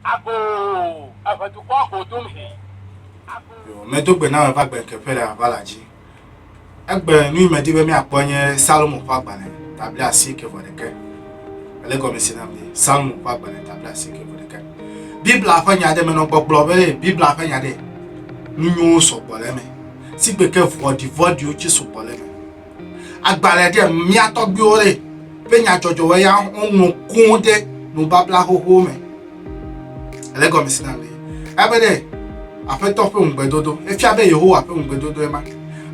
Ago eve dukɔ go dom he. Yo, medo gbe na me va gbe keƒe le aʋa la dzi. Egbe nu yi medi be míakpɔ nye Salomo ƒe agbalẽ tabli asieke vɔ ɖeke. Ele gɔme si nam ni. Salomo ƒe agbalẽ tabli asieke vɔ ɖeke. Biblia ƒe nya ɖe menɔ gbɔgblɔ be Biblia ƒe nya ɖe nu nyuwo sɔgbɔ le eme. Sigbe ke vɔɖivɔɖiwo tse sɔgbɔ le eme. agbalẽ ɖe mía tɔgbuiwo ɖe ƒe nyadzɔdzɔwo ya woŋlɔ kũu ɖe nubabla xoxo me ele gɔme si na le ebe ɖe aƒetɔ ƒe ŋugbedodo efia be yehowa ƒe ŋugbedodo ema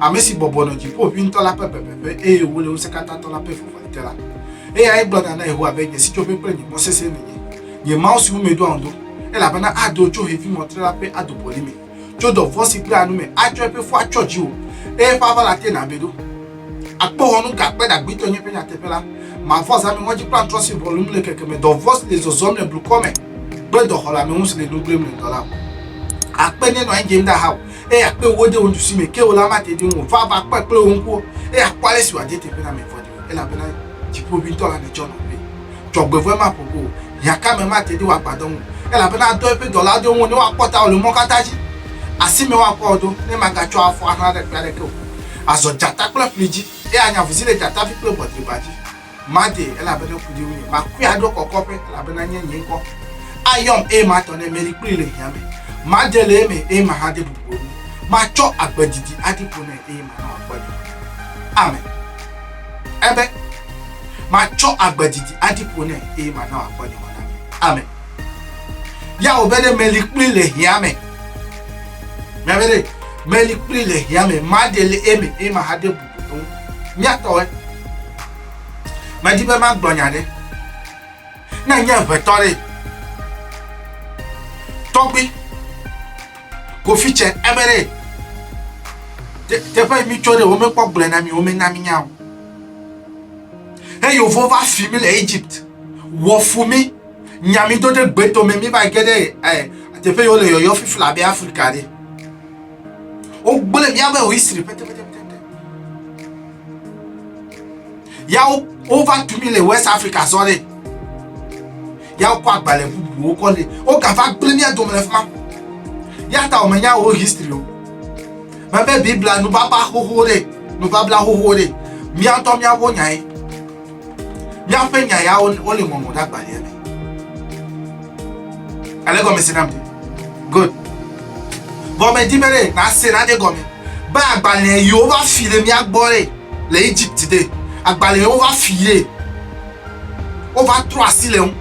ame si bɔbɔ nɔ dziƒo ʋi ŋutɔ la ƒe bebeƒe eye wòle ŋusẽkatãtɔ la ƒe vɔvɔli te la eyae gblɔna na yehowa be nye sitsoƒe kple nye mɔ sesẽ nenye nye mawu siwo meɖoa ŋu do elabena ado tso xevi mɔtre la ƒe adobɔli me tso dɔvɔ̃ si kpea nu me atsɔ eƒe fu atsyɔ dziwò, eye eƒe aʋala ate nàbe ɖo. Akpoxɔnu ka kpe ɖagbitɔ nye eƒe nyateƒe la! Mavɔ zã me ŋɔdzikplantrɔ si ʋɔlum le keke me, dɔvɔ̃ si le zɔzɔm le blukɔ me kple dɔxɔleameŋu si le nu gblẽm le dɔ la ŋu. Akpe nenɔ anyi dze ŋda hawò, eye akpe ewo de wò nuɖusi me, ke wò la mate ɖi ŋu o. Va, va, kpɔe kple wò ŋkuwo, eye àkpɔ ale si wòade teƒe na ame vɔ̃ɖiwo, elabena Dziƒoʋĩtɔ la nètsɔ nɔ ƒee. dzɔgbevɔ̃e maƒo ƒu o, hiãkame mate ɖe wò agbadɔ ŋu o, elabena adɔ eƒe dɔlawo ɖe ŋuwò ne woakpɔ tawò le mɔ katã dzi. Asimee woakpɔ wò ɖo, ne magatsɔ afɔ ahlã ɖe kpe aɖeke o. Azɔ dzata kple ƒli dzi, eye anye avuzi le dzatavi kple ʋɔdriba dzi. Madee, elabena ku ɖi ŋunye. Makui aɖo kɔkɔƒe, elabena enye nye ŋkɔ. Ayɔm, eye matɔ nɛ, meli kplii le hiã me. Made le eme, eye mahade bubu o nu. Matsɔ agbe didi aɖi ƒo nɛ, eye mana wòakpɔ nye ŋkɔ. Amen. Ebe, Matsɔ agbe didi aɖi ƒo nɛ eye mana wòakpɔ nye mɔ na mi. Amen. Ya wòbe ɖe meli kpli le hia me. Miabe ɖe meli kpli le hia me. Maɖe le eme eye mahaɖe bubu ŋu. Miatɔe. Medi be magblɔ nya ɖe. Ne nye ʋetɔ ɖe. Tɔgbi. kofi tse ebe ɖe teƒe mi tsɔ ɖe wo mekpɔ gblẽ na mi wo mena mi nya o eye wofɔ va fi mi le egypt wɔfu mi nya mi do ɖe gbeto me mi va ge ɖe ɛ teƒe yiwo le yɔyɔ fifi le abe afrika ɖe wogblẽ miabe history pɛtɛpɛtɛpɛtɛ ya wova tu mi le west africa sɔ ɖe ya wokɔ agbalẽ bubuwo kɔ li wogava gblẽ mía dome le fi ma ya ta wòmenya wo history o mebe biblia nubaba xoxo ɖe nubabla xoxo ɖe mía ŋutɔ míawo nyae míaƒe nya ya wole ŋɔŋɔ ɖe agbalẽa me ale gɔme se nam te good gɔme di be ɖe nase nane gɔme be agbalẽ yiwo va fi ɖe mía gbɔ ɖe le egypt ɖe agbalẽ yiwo va fi ɖe wova trɔ asi le ŋu.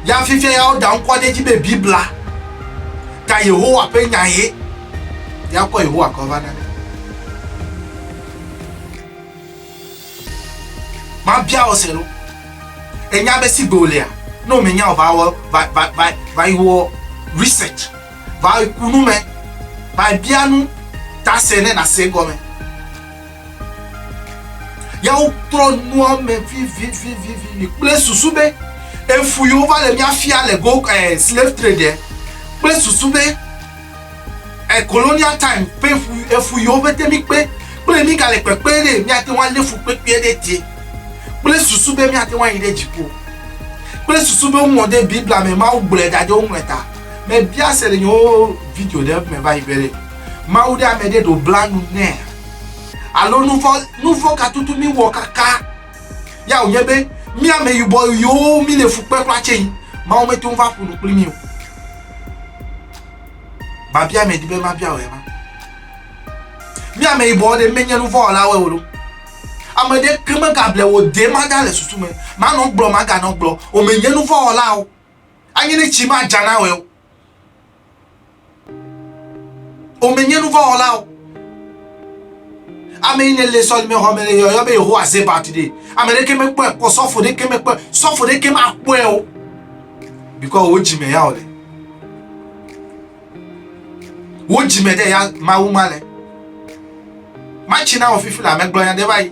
Ya fifia ya woda ŋkɔ ɖe edzi be Biblia ta Yehowa ƒe nya ye. Ya kɔ Yehowa kɔ va na. Mabia wò se ɖo. Enya be sigbe wòlea, ne wòmenya o, va wɔ va va va va yi wɔ research, va yi ku nu me, va yi bia nu ta se ne nàse egɔme. Ya wotrɔ nua me vivivivivi kple susu be efu yi wova le mía fia le go eh, slave trade eh, kple susu be eh, colonial time ƒe efu yi wova te mi kpe kple mi gale kpekpe ɖe míate ŋu alé fu kpekpe ɖe te kple susu be míate ŋu ayi ɖe dziƒo kple susu be woŋlɔ ɖe biblia me mawu gblɔe da ɖe woŋlɔe ta mebia se le nyewo video ɖe me va yi be mawu ɖe ame ɖe ɖo bla nu nɛ Alo nuvɔ nuvɔ ka tutu mi wɔ kaka ya o nye be mi ame yibɔ yiwo mi le fukpe kpla tse yi ma wo me to va ƒunu kpli mi o. Ma bia me di be ma bia o ema. Mi ame yibɔ de me nye nuvɔ la wo lo. Ame de ke me ka ble wo de ma da le susu me. Ma no gblɔ ma ga no gblɔ o me nye nuvɔ la o. Anyi ne tsi ma djana o. Womenye nuvɔ̃wɔlawo. Ame yi ne le sɔlimexɔ me le yɔyɔ be Yehowa ze bat ɖi. Ame ɖeke mekpɔe kpɔ, sɔfo ɖeke mekpɔe, sɔfo ɖeke makpɔe o. Bikɔ wo dzime ya wòle. Wo dzime ɖe ya Mawu ma le. Matsi na wò fifi le amegblɔnya ɖe va yi.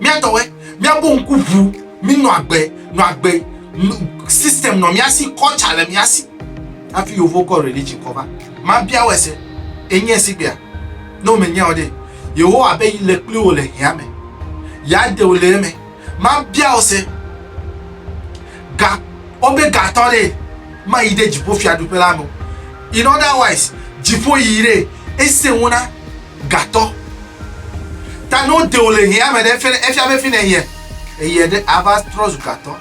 Mía tɔwɛ, míabu ŋku ŋu, mínɔ agbe, nɔ agbe, system nɔ mía si, culture le mía si. Hafi yovo kɔ religion kɔ va. Mabia wò ese, ènyae sigbea? Ne wòmenyae o ɖe, Yehowa be yi le kpli wò le hea me, yeaɖe wò le eme. Mabia wò ese, ga, wobe ga tɔ ɖee, mayi ɖe dziƒofiaɖuƒe la me o. In other wise, dziƒo yiyi ɖee, ese ŋu na Gatɔ. Ta ne wode wò le hiã me ɖe, efe ɖe, efia be fi nèhiã eyiɛ ɖe, àva trɔ zu gatɔ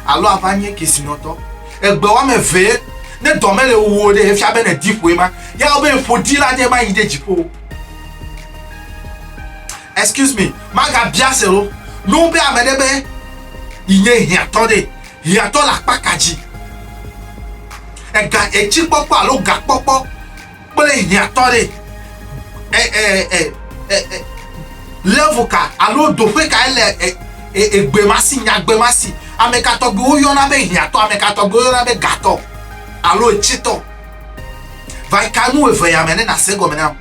alo àva nye kesinɔtɔ. Egbe woame evee, ne dɔ mele wuwò o ɖe, efia be nèdi ƒoe ma. Ya wɔ be ƒodila aɖe ma yi ɖe dziƒo o. Excuse me, magabia se wo. Ne wobia ame ɖe be yi nye hiãtɔ ɖe, hiãtɔ le akpa ka dzi? Ega, etsikpɔkpɔ alo gakpɔkpɔ. kple hiãtɔ ɖe ɛ ɛ ɛ ɛ ɛ level ka alo doƒe ka ele ɛ ɛ egbemasi nyagbemasi ame ka tɔgbiwo yɔna be hiãtɔ ame ka tɔgbiwo yɔna be gatɔ alo etsitɔ va ka nu eve ya me ne na se gɔme nam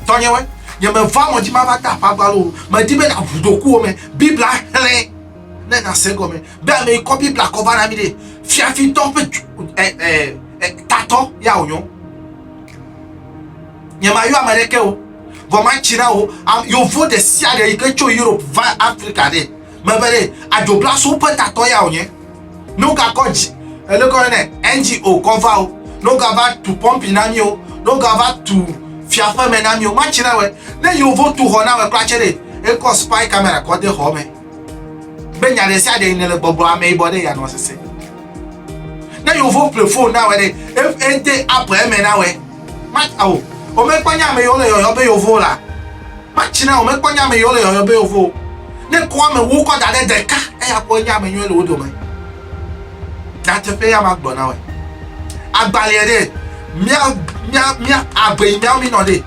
tɔnyewɔe nye me va mɔdzi ma va ta aƒagba lo me di be na ʋu dokuwo me biblia xlẽ. ne na se gɔme be ame yi kɔ biblia kɔ va na mi ɖe fiafitɔ ƒe eh, eh, eh, tatɔ ya wònyɔ nyemayɔ ame ɖeke o vɔ matsi na wo yovo ɖe sia ɖe yi ke tso europe va afrika ɖe mebe ɖe adzobla so ƒe tatɔ ya wònye ne wogakɔ dzi elekɔ ne ngo kɔ va o ne wogava tu pɔmpi na mi o ne wogava tu fiaƒeme na mi o matsi na wɛ ne yovo tu xɔ na wɛ kura tsɛ ɖe ekɔ spy camera kɔ de xɔ me be nya ɖe sia ɖe ne le gbɔgblɔ ame yibɔ ɖe yanɔ sese ne yovo ple fon na wɛ ɖe ete app eme na wɛ mata o womekpɔ nya ame yiwo le yɔyɔ be yovo la matsi na womekpɔ nya ame yiwo le yɔyɔ be yovo ne kɔ ame wu kɔ da ɖe ɖeka eya kpɔ nya ame yiwo le wo dome nyateƒe ya magblɔ na wɛ agbalẽ ɖe mia mia mia agbe yi miawo minɔ ɖe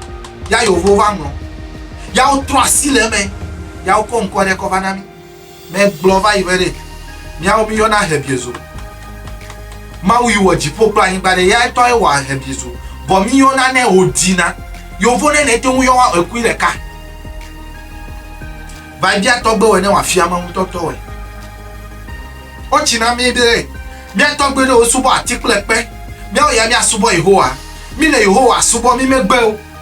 ya yovo va ŋlɔ yawo trɔ asi le eme ya wokɔ ŋkɔ ɖe kɔ va na mi. Mɛ gblɔ va yi be ɖe miawo mi yɔna hebiezo. Mawu yi wɔ dziƒo kple anyigba ɖe ya etɔ ye wɔ hebiezo. Bɔ mi yɔna nɛ wo dina. Yovo ɖe nɛ teŋu yɔ wa ekui ɖeka. Va yi bia tɔgbe wɔ ne wa fia mawu tɔtɔ wɔ. Wo tsi na mi ɖe mia tɔgbe ɖe wo subɔ ati kple kpe. Miawo ya mia subɔ Yehowa. Mi le Yehowa subɔ mi megbe o.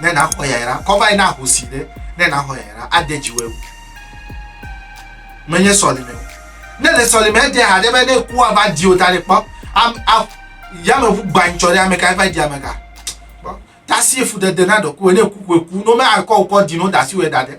ne nàxɔ yayra, kɔ va yi na ahosi ɖe ne nàxɔ yayra, ade dziwɔe o. Menye sɔlime o. Ne le sɔlime ede ha ɖe be ne kua va di o ta ɖe kpɔ, yameʋu gbanytsɔ ɖe ame ka va di ame ka. Tasi efudede na ɖɔkuwe ne ku ku no me akɔ wokɔ di no dasi wɔ da ɖe.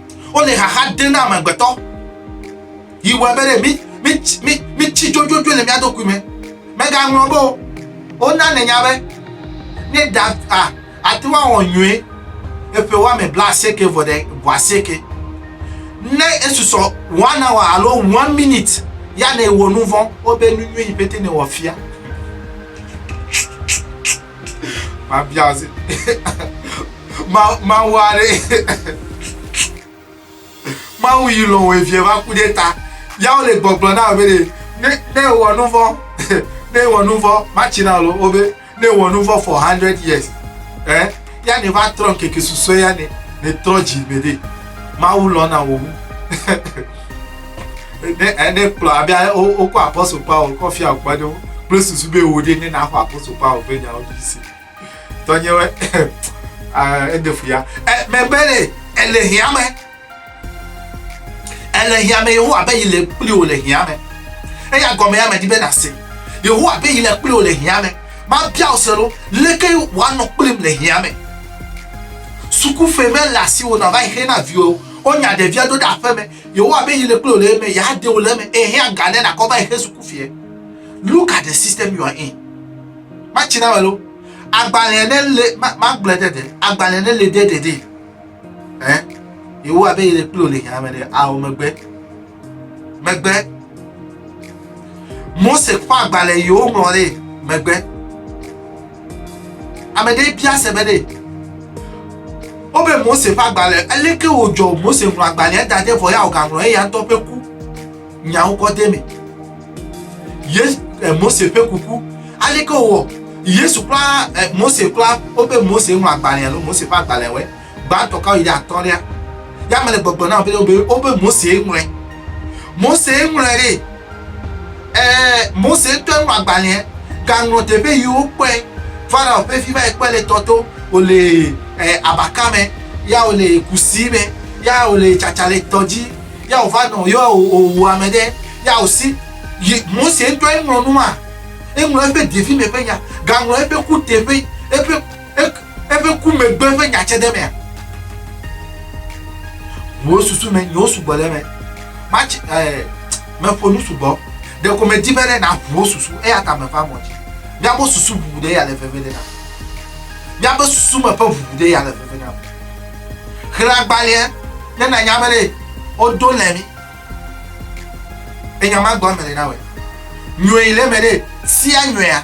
Wole xaxa ɖem na amegbetɔ. Yi wɔe be ɖe mi mi mi mi tsi dzodzodzoe le mía ɖokui me. Megaŋlɔ be o. Wona ne nya be ne ɖa a ate ŋu awɔ nyuie eƒe wɔme bla asieke vɔ ɖe vɔ asieke. Ne esusɔ one hour alo one minute ya ne wɔ nu vɔ wobe nu nyuie yi pete ne wɔ fia. mabia zi mawu aɖe mawu yi lɔ wɔ evie va ku ɖe ta yawo le gbɔgblɔ na be ɖe ne ne wɔ nu vɔ ne wɔ nu vɔ matsi na lo wo be ne wɔ nu vɔ for hundred years ɛ eh? ya ne va trɔ keke susue ya ne ne trɔ dzi me ɖe mawu lɔ na wɔ wu. ne ne kplɔ abe wokɔ apɔstol paul kɔ fia kpe ɖe kple susu be wo ɖe ne naxɔ apɔstol paul ƒe nyawo dzi si tɔnyewe ede fu ya megbe le ele hiame ele hiame yehowa abe yi le kpli wo le hiame eya gɔme ya medi be nase yehowa abe yi le kpli wo le hiame mabia wo se ɖo leke woanɔ kplim le hiame sukuƒe mele asiwo na va yi xe na viwo wonya ɖevia do ɖe aƒeme Yehowa be yele kple wò le eme, yeade wò le eme, ehe aga ne nakɔ va exe suku fiɛ. Look at the system you are in. Ma tsi na me lo. Agbalẽ ne le ma ma gblɔ ɖe ɖe. Agbalẽ ne le ɖe ɖe ɖe. Eh? Yehowa be yele kple wò le hɛame ɖe ao megbe. Megbe. Mose kpɔ agbalẽ yewo ŋlɔ ɖe megbe. Ame ɖe bia se be ɖe wobe Mose ƒe agbalẽ, aleke wòdzɔ Mose ŋlɔ agbalẽa da ɖe vɔ ya wògaŋlɔ eya ŋutɔ ƒe ku nyawo kɔ de me. Ye eh, Mose ƒe kuku, aleke wòwɔ Yesu kura eh, Mose kura wobe Mose ŋlɔ agbalẽa lo Mose ƒe agbalẽwoe. Gbãtɔ kawo yi ɖe atɔ̃lia? Ya mele gbɔgblɔ na wò be wobe Mosee ŋlɔe. Mosee ŋlɔe ɖe. Ẽ, Mose ŋutɔe ŋlɔ agbalẽa, gaŋlɔ teƒe yi wokpɔe. Farao ƒe vi va yi kpɔe le tɔ to, wòle abaka me, ya wòle kusi me, ya wòle tsatsa le tɔ dzi, ya wòva nɔ ye wòwu ame ɖe, ya wòsi. Yi Mose ŋutɔe ŋlɔ nua? Eŋlɔ eƒe devi me ƒe nya, gaŋlɔ eƒe kuteƒe, eƒe. eƒe ku megbe ƒe nya tse ɖe emea? Wò susu me nyawo sugbɔ ɖe eme. Matsi ɛɛ meƒo nu sugbɔ. Ɖeko medi be ɖe naʋu wò susu eya ta meva mɔ dzi. Míaƒe susu ʋuʋu ɖe ya le veve ɖe na. Míaƒe susu me ƒe ʋuʋu ɖe ya le veve na. Xlẽ agbalẽa ne nanya be ɖe wodo le mi. Enya ma gbɔ ame ɖe na wɔ. Nyɔe le me ɖe sia nyɔea.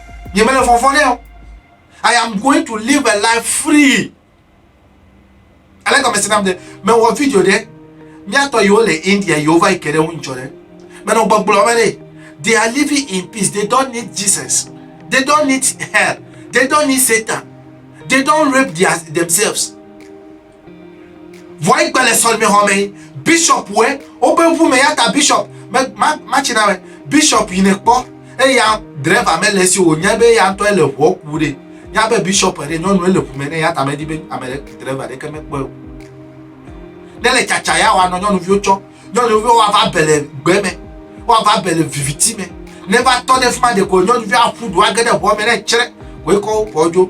nye mele fɔfɔ ɖe o i am going to live a life free ale gɔmesi nam de mewɔ video ɖe míatɔ yiwo le india yiwo va yi ke ɖe ŋu ŋdzɔ ɖe menɔ gbɔgblɔ me ɖe they are living in peace they don't need jesus they don't need hell they don't need satan they don't rape their, themselves Vɔa yi gbe le sɔlime hɔ me bishop we o be ŋu me yata bishop me ma ma ci na me bishop yi ne kpɔ e ya driver me le si o nya be ya ntɔ le ŋu ku de nya be bishop e de nyɔnu e le ŋu me ne ya ta me di be ame le driver de ke me kpɔ ne le caca ya wa no nyɔnu viwo cɔ nyɔnu viwo wa va bele gbe me wa va bele viviti me ne va tɔ de fuma de ko nyɔnu viwo afu do agede ŋu me ne cre ko e ko po jo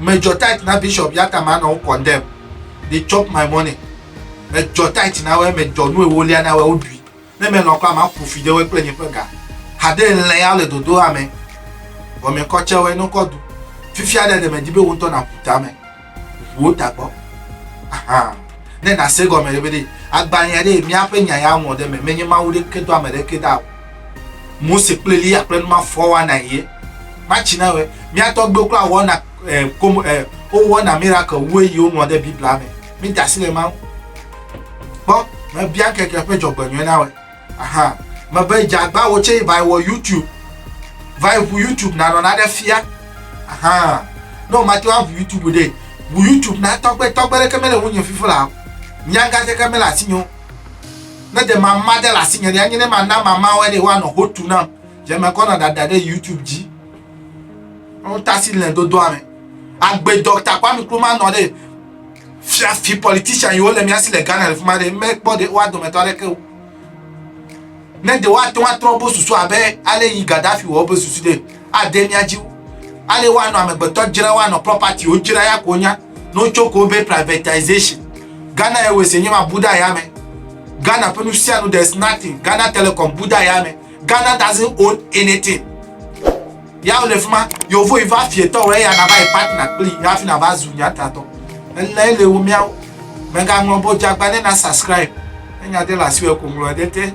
Medzɔ tight na bishop yata manɔ wo condemn they chop my money medzɔ tight na wɔe medzɔ nu ewolia na wɔe woɖui ne melɔ kɔ ama ƒofi ɖe wɔe kple nye ƒe ga hade lɛ ya le dodo ame wɔme kɔ tse wɔe nɔkɔ du fifia ɖe ɖe medi be wontɔ na ƒu tame ƒuwo tagbɔ aha ne na se gɔme ɖe be ɖe agbanya ɖe miaƒe nya ya ŋɔ ɖe me menye mawu ɖe ke do ame ɖe ke da o Mose kple Eliya kple numa fɔ wɔna ye. Matsi na wɛ. Mía tɔgbewo kura wɔna eh, kom, eh, wowɔna miracle wue yi wonua ɖe Biblia me. Mi da asi le ma ŋu. Kpɔ, mebia keke ƒe dzɔgbenyɔe na wɛ. Aha. Mebe dzagba wo tse va wɔ YouTube. Va ʋu YouTube nanɔ na ɖe fia. Aha. Ne o mate wa ʋu YouTube ɖe. Ʋu YouTube na tɔgbe, tɔgbe ɖeke mele ŋu nye fifo la. Nyanga ɖeke mele asi nyo. Ne ɖe mama ɖe le asinye ɖe, anye ne mana mamawoe ɖe woanɔ ho tu nam. Dze mekɔ nɔ ɖaɖa ɖe YouTube dzi. Wotasi le dodoa me. Agbe Dɔkta Kwame Nkrumah nɔ ɖe fiafi politician yiwo le mía si le Ghana le fi ma ɖe, mekpɔ ɖe woa dometɔ aɖeke o. Ne ɖe woate ŋu atrɔ wobe susu abe ale yi Gaddafi wɔ wobe susu ɖe, Ade mía dzi wu ale woanɔ amegbetɔ dzram woanɔ property wo dzram ya ko wonya ne wotso ko be privatization Ghana Airways ye nyɔma bu ɖe ayame Ghana ƒe nusianu there is nothing Ghana Telecom bu ɖe ayame Ghana doesn't own anything ya wole fima yovo yi va fie tɔ wɔ eya na va yi partner kpli ya fi na va zu nya tatɔ ele ele wo mía mega ŋlɔ bo jagba ne na subscribe ne nya de la siwe ko ŋlɔ de te